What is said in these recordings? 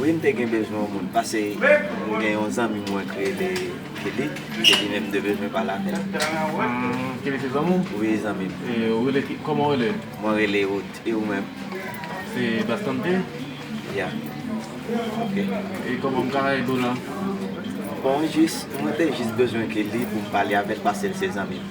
Wi m te gen bezwen yon moun pase m gen yon zanmi mwen k rele Kelly e li menm m te bezwen pale avè l. Kelly se zanmi w? Wi zanmi m. E ou rele ki kòman ou rele? Mwen rele Ruth e ou menm? Se Bastante? Ya ok. E kòman m ka ede w la? Bon jis mwen te jis bezwen Kelly pou m pale avè l pase l se zanmi m.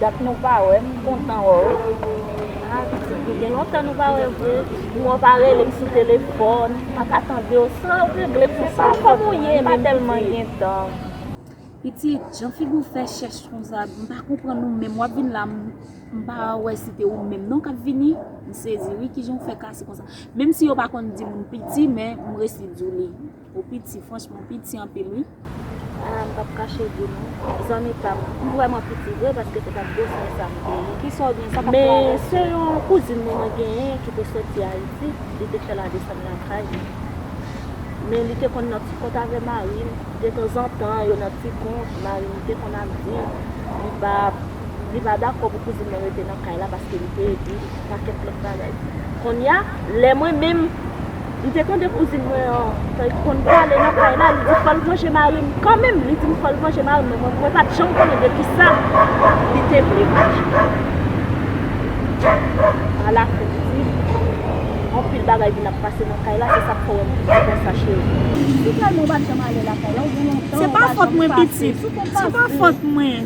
Dat nou pa wè m kontan wè w. Ah pitit nou gen lontan nou pa wè vre. Ou an pa rele m sou telefòn. M pa ka tande w san w regle pou sa w kòm ou ye menm pitit. M pa tèlman gen tan. Pitit, jan figi w fè chèch konsa m pa konprann ou menm w ap vin la m pa wè si te ou menm non k ap vini. M sezi wi kijan w fè kase konsa. Menm si yo pa konn di moun piti men m resi di w li. Ou piti franchman ou piti anpil wi. Ala m pap kache di nou zanmi pam m vrèman piti vre paske se pat gwo swen sa m te ye. Kisa w gen sa kap fè aves yo. Se yon kouzin mwen mwen genyen ki te soti ayiti li te fè la desann lakay li men li te konn nan ti kont avè mari l detanzantan yo nan ti kont mari m te konn ap vin li pa li pa dakò pou kouzin nan rete nan kay la paske li te di li pou pakèt lòt bagay. Konnya, lè mwen menm, m te tande kouzin mwen an, tan li konn pale nan kay la, li di fò l vanje mari m kanmenm, li di m fò l vanje mari m men mwen pa t janm konnen de ki sa li te vle vanje. Alafen, m di, anpil bagay vin ap pase nan kay la, se sa k fè wè m piti konsa cheri. Li di, Pitrèl mwen pa t janm ale lakay la, ou gen lontan ou pa janm pase, si w konn pase.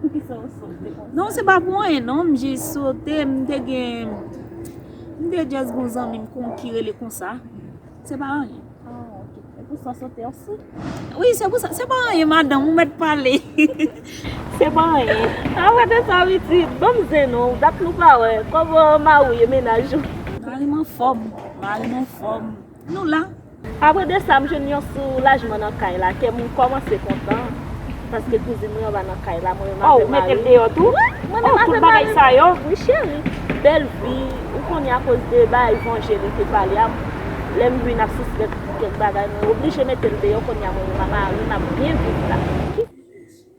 Poukisa ou sote konsa? Non se pa pou anyen non, m jis sote, m te gen, m te just gon zanmi m konn ki rele konsa, se pa anyen. Ah ok, se pou sa ou sote ansi? Wi se pou sa, se pa anyen madanm, ou mèt pale. Se pa anyen. A pa de sa pitit, ban m zen non, dat nou pa wè, kòman mari w ye, mennaj ou? Mari m anfòm, mari m anfòm. Nou la! Apre de sa, m jwenn yon soulajman nan kay la. Kè m kòmanse kontan. Paske kouzin mwen an va nan kay la. Mwen menm avèk mari m. Oh, ou mete m deyò tou? Wi! Mwen menm avèk mari m. Oh, tout bagay sa yo? Wi cheri. Bèl vi. Ou konnen akoz de bagay vanje li te pale a, lè m vin ap sispèk kèk bagay, mwen oblije mete l deyò. Kounye a mwen menm ak mari m ap byen viv la.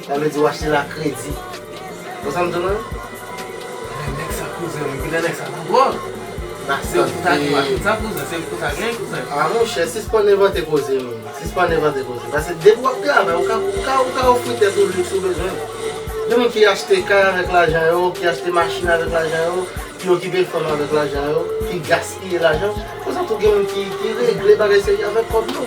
Sa vle di w achte l a kredi. Bon sa m di w menm? Gade nèg sa kouzen mwen gade nèg sa nan dwòl. Se w pou ta gen machin sa kouzen se w pou ta gen kouzen. A monchè sispann envante koze menm. Sispann envante koze. Pase depi w ap travay ou ka ou ka ofri tèt ou liks ou bezwen. Gen moun ki achte kay avèk lajan yo, ki achte machin avèk lajan yo, ki okipe fanm avèk lajan yo, ki gaspiye lajan. Konsa tou gen moun ki regle bagay serye avèk kòb yo.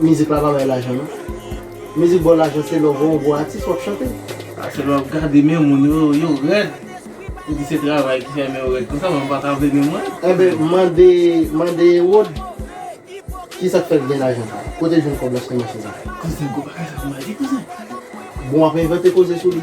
Mizik la pa bay lajan non. Mizik baw lajan se lè w wè yon gwo atis wap chante. A se lè wap gade men moun yo, yo rèd. Ou di se travay ki fè men yo rèd konsa men ou pa ka vle men mwen. Enben mande mande Erod kisak fèl gen lajan sa. Kote jwenn kòb la sou machin sa. Kouzen gwo bagay sa pou mwen di kouzen. Bon wap envante koze sou li.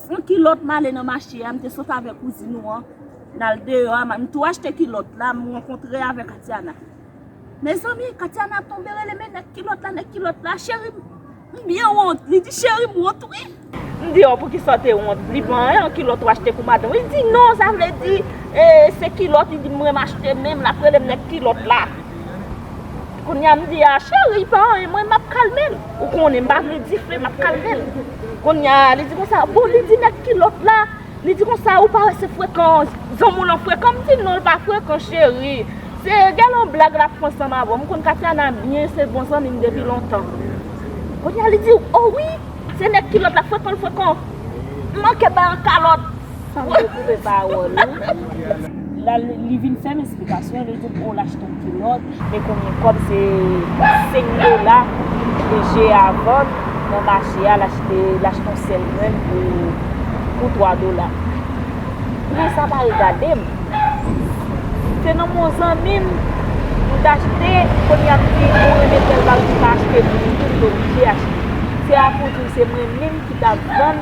San kilòt m ale nan mache a, m te sot avèk kouzin ou an, n al deyò a, m tou achte kilòt la, m rankontre avèk Katiana. Mezanmi, Katiana tonbe rele men nèg kilòt la, nèg kilòt la, cheri m, m byen wont, li di cheri m wont wi. M di oh poukisa w te wont, m di bon an yon kilòt w achte pou madanm ou, li di non sa vle di e se kilòt li di m renm achte menm lap rele m nèg kilòt la. Kounya m di a cheri pa anyen mwen m ap kalme l, ou konnen m pa vle di fre m ap kalme l. Konnya li di konsa, bon li di nèg kilòt la, li di konsa ou pa wè se frekan zanmi w lan frekan, m di non l pa frekan cheri, se gen yon blag lap fè ansanm avè w, m konn Katiana byen se bon zanmi m depi lontan. Konnya li di oh wi se nèg kilòt la frekan l frekan, m manke bay yon kalòt. Fanm yo koupe pawol ou. La li vin fèm esplikasyon li dim oh lach ton kilòt. Me konbyen kob se 5 dola de je a vann nan mache a lach te lach ton sèl grenn pou 3 dola prix sa pa regadem se nan men yon zanmi m m t achte kounye a m di mwen renmen tel bagay m pa achte pou mwen tou m t oblije achte se a pou w di m se mwen menm ki tap vann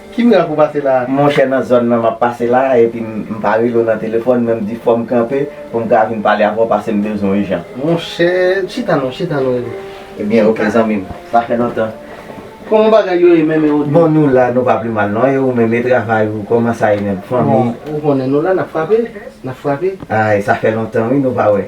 Ki mirak ou pase la? Monchè nan zòn nan map pase la epi m pa rele w nan telefòn men m di fòm kanpe pou m ka vin pale avè w pase m bezwen w ijan. Monchè chita non chita non Edo. Ebyen ok zanmi m sa fè lontan. Kòman bagay yo ye menm e Odio? Bon nou la nou pa pli mal non e ou menm e travay ou kòman sa ye menm fanmi? Bon ou konnen nou la nap frape nap frape. Ay sa fè lontan wi nou pa wè.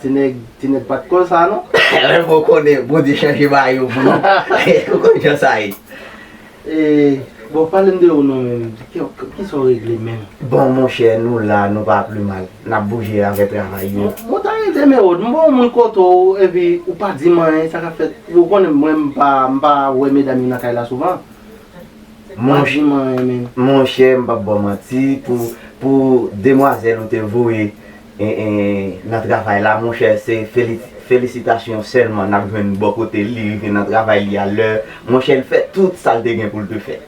Ti nèg, ti nèg pat konn sa non. Lè mwen konnen Bondye chanje mayo pou nou, ou konn jan sa ye. E, bon pale m de ou non menm, ki sa w regle menm? Bon monchè, nou la, nou pa pli mal. N ap bouje avè travay yo. Mwen ta rete men ou, m ba w moun kote w, epi ou pa di m anyen, sa ka fèt, ou konnen mwen m pa, m pa wè medam yo nan kay la souvan. Ou pa di m anyen menm. Monchè, m pap ba w manti, pou, pou demwazèl ou te voye. nan travay la monchè se felisitasyon sèlman nap jwenn bò kotel li rive nan travay li a lè monchè li fè tout sal te gen poul te fè.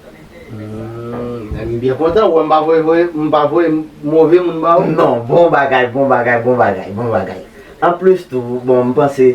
Humm m byen kontan wè m pa voye voye m pa voye move moun ba ou. Non bon bagay bon bagay bon bagay bon bagay anplis tou bon m panse.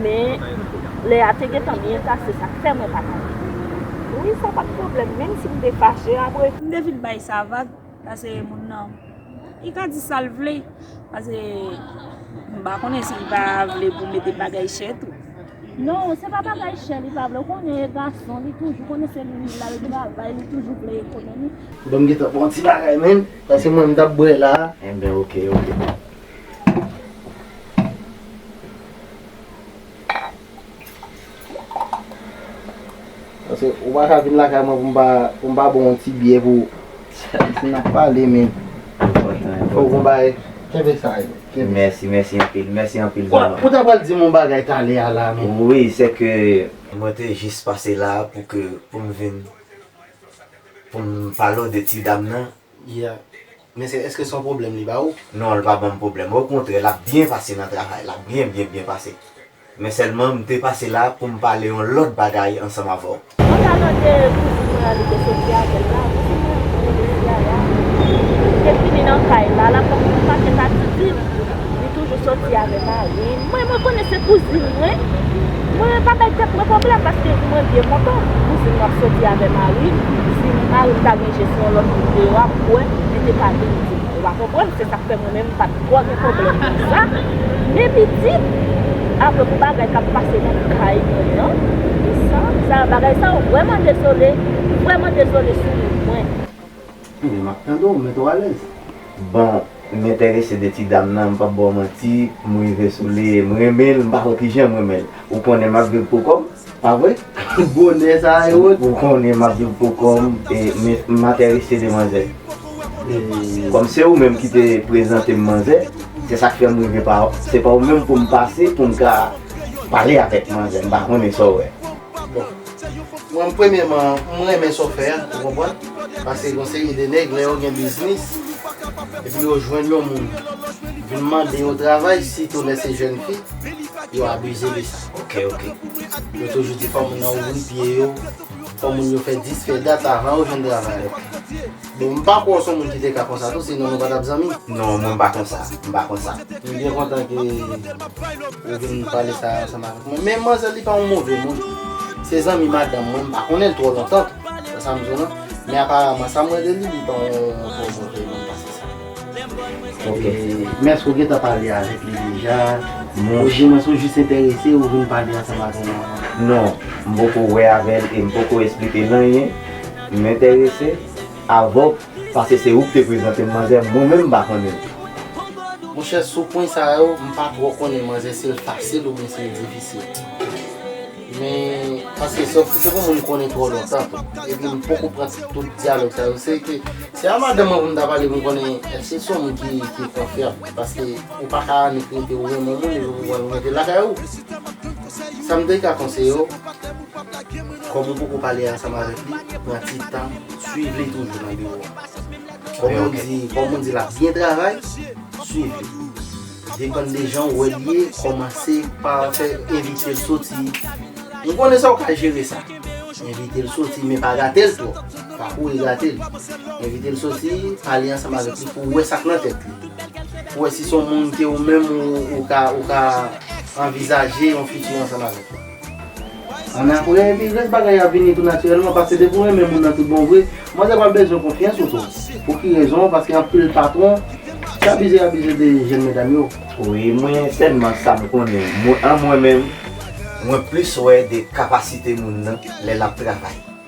Men, lè a te gentan byen ta, se sa k fè mwen pa t ale. Wi, sa pa t pwoblèm, menm si m te fache apre. M te fin bay sa vag, pase moun nan, li ka di sa l vle. Pase, m pa konnen si li pa vle pou m mete bagay chè tou. Non, se pa bagay chè li pa vle. Ou konnen e gason, li toujou konnen se li menm l al travay, li toujou vle ekonomi. Bon, m gentan pran yon ti bagay menm, pase mwen m t ap bwè la a. Enben, ok, ok. Paske ou pa ka vin lakay mwen pou m pa pou m pa ba w yon ti byè pou Ayisyen ap pale men Enpòtan enpòtan Fòk w gon bagay Kenbe sa yo Kenbe Mèsi mèsi anpil Mèsi anpil zanman Ou ta pral di m yon bagay talè a la men Wi se ke Mwen te jis pase la a pou ke pou m vin pou m pale w de ti dam nan Yeah Men sè eske son pwoblèm li ba ou? Non l pa banm pwoblèm okontrè lap byen pase nan travay la byen byen byen pase men sèlman m te pase la poum pale yon lòt bagay ansanm avèw. Mwen ta mande kouzin mwen an li te soti avèl la kouzin mwen an li rele yaya li te vini nan kay la lap banm yon paket atis dim. Li toujou soti avè marim. Mwen mwen konnen se kouzin mwen. Mwen pa bay tèt mwen pwoblèm paske mwen byen kontan kouzin mwen ap soti avè marim. Si marim ta gen je sou yon lòt moun deyò a m kwè li te ka vin di m. Ou pa konprann se sak fè mwen menm m pat twò gen pwoblèm nan sa. Men pitit apre pou bagay kap pase nan kay mwen an e sa. Sa bagay sa yo vrèman dezole. M vrèman dezole sou moun mwen. Ebyen map tande w mete w alèz. Bon m entèrese de ti dam nan m pap baw manti m rive sou li e m renmen l m pa konn kijan m renmen l ou konnen map viv pou kòm pa vre bonè sa e wot ou konnen map viv pou kòm e m entèrese de manzè kòm se ou menm ki te prezante m manzè se sak fè m rive pa w se pa w menm pou m pase pou m ka pale avèk manzè m pa konnen sa w wè. Bon, mwen premyeman, m renmen sa w fè a, ou konprann? Pase yon seri de nèg, lè yo gen biznis, epi yo jwenn yon moun vin mande yo travay, sitou lè se jèn fi, yo abize de sa. Ok, ok. Yo toujou di fò moun nan ouvri pye yo, fò moun yo fè dis fè dat avan yo jwenn travay. Ok. Bon m pa kwè w son moun ki te ka konsa tou sinon nou pa tap zanmi. Non mwen m pa konsa, m pa konsa. M byen kontan ke ou vin pale sa ansanm avèk mwen. Men manzè li pa yon move moun. Se zanmi madanm mwen, m pa konnen l twò lontan tou. Se sa m di w non. Men aparaman sa mwen de li, li pa yon twò move moun pase sa. Ok. Men èske ou gentan pale avèk li deja? Ou jwenn l, ou jis enterese, ou vin pale ansanm avè l avan? Non. M poko wè avè l e m poko esplike l anyen. M entèrese avèw paske se ou ki te prezante m manzè mwen menm m pa konnen l. Monchè sou pwen sa yo m pa twò konnen manzè si l fasil oubyen si l difisil. Men paske se yon moun m konnen twò lontan tou. Epi m poko pran tout dyalòg sa yo. Se ke se a madanm mwen pou m ta pale pou m konnen èske se yon moun ki konfyab. Paske ou pa ka annik rete ou renmen yon moun epi pou w pran l pou w mete l lakay ou. Sa m te ka konseyew. Kòm ou poko pale ansanm avèk li, pran ti tan swiv li toujou nan biwo a. Kòm ou di, kòm ou di lap byen travay, swiv li. Depann de jan ou wè li ye, kòmanse pa fè envitel soti. M konnen sa ou ka jere sa. Envitel soti men pa gatel twòp. Pa kouri gate li. Envitel soti, pale ansanm avèk li pou wè sak nan tèt li. Pou wè si son moun ke ou menm ou ka anvizaje yon fiti ansanm avèk li. An aprè epi rès bagay ap vini tou natirèlman paske depi ou renmen moun nan tout bon vre manzè pral bezwen konfyans ou tou pou ki rezon paske anpil patron ki abize abize de jèn medam yo. Wi mwen sèlman sam konnen mwen an mwen menm mwen plis wè de kapasite moun nan lè lap travay.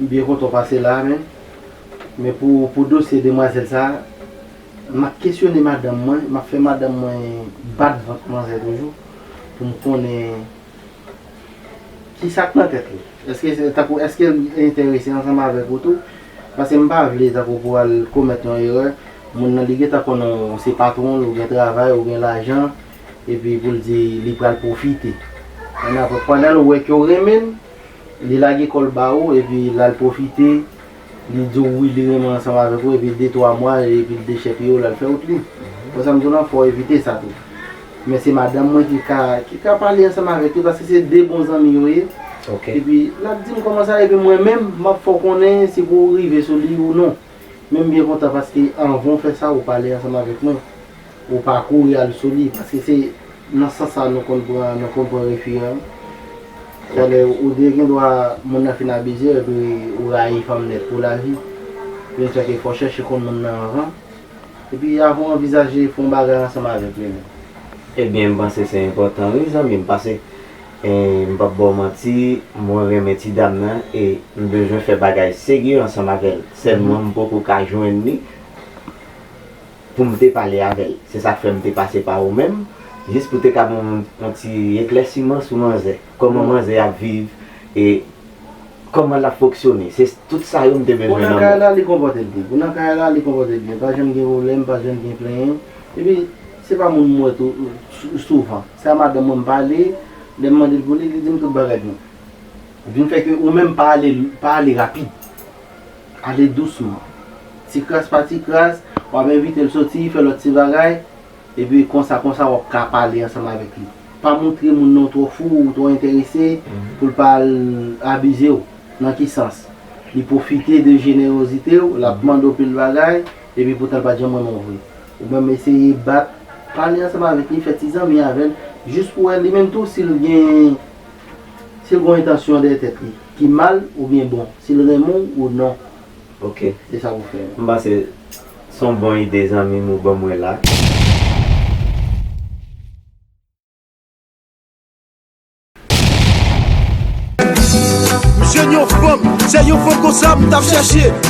M byen kontan w pase la a men men pou pou dosye demwazèl sa a m ap kesyone madanm mwen m ap fè madanm mwen bat vant manzè toujou pou m konnen kisa k nan tèt li èske se tankou èske l enterese ansanm avèk ou tou paske m pa vle tankou pou al komèt yon erè moun nan li gen tan konnen w se patwon l ou gen travay ou gen lajan epi pou l di li pral pwofite pandan l wè ke w renmen l. Li lage kòl ba ou epi lal pwofite li di w wi li renmen ansanm avèk ou epi de twa mwa epi l dechèpiye w lal fè out li. Bon sa m di w lan fò w evite sa tou. Men se madanm mwen ki ka ki ka pale ansanm avèk li paske se de bon zanmi yo ye epi lap di m kòman sa epi mwen menm map fè w konnen si pou w rive sou li ou non. Men m byen kontan paske anvan w fè sa ou pale ansanm avèk mwen. Ou pa kouri al sou li. Paske se nan sans sa nou konn pran, nou konn pran refi an. Sa vle di ou de gen dwa moun nan fin abizew epi ou rayi fanm nèt pou lavi. Pou yon sèke fò chèche konn moun nan anvan. Epi avan w anvizaje fon bagay ansanm avèk li menm. Ebyen m panse se enpòtan wi zanmim. Pase m pap baw manti mwen renmen ti dam nan e m bezwen fè bagay serye ansanm avèl. Sèlman m poko ka jwenn li. pou m te pale avè l. Se sa k fè m te pase pa ou menm, jis pou te ka ban mwen yon ti eklèsiman sou manzè. Kòman manzè ap viv e kòman l ap foksyone. Se tout sa yo m te bezwen nan men w. Pou nan kay la, li konpòte l byen. Pou nan kay la, li konpòte l byen. Pa janm gen pwoblèm, pa janm gen plenyen. Epi, se pa moun m wè tou souvan. Se a madanm mwen m pale, lè m mande l pou li, li di m tout bagay byen. Vin fè ke ou menm pa ale rapid. Ale dousman. Ti kras pa ti kras, w ap envite l soti, fè lòt ti bagay, epi konsa konsa w ap ka pale ansanm avèk li. Pa montre moun nan w twò fou, ou twò enterese, pou l pa al abize w. Nan ki sans? Li pwofite de jenerozite w, l ap mande w pil bagay, epi poutan l pa t janm renmen w vre. Ou menm eseye bat, pale ansanm avèk li, fè ti zanmi avè l, jis pou wè li menm tou si l gen. Si l gon entansyon dèyè tèt li ki mal oubyen bon, si l renmen w ou non. Ok. Se sa pou fè. M panse s on bon ide zanmi m ou ban mwen la. Jèn yon fanm, se yon fanm konsa m tap chèche.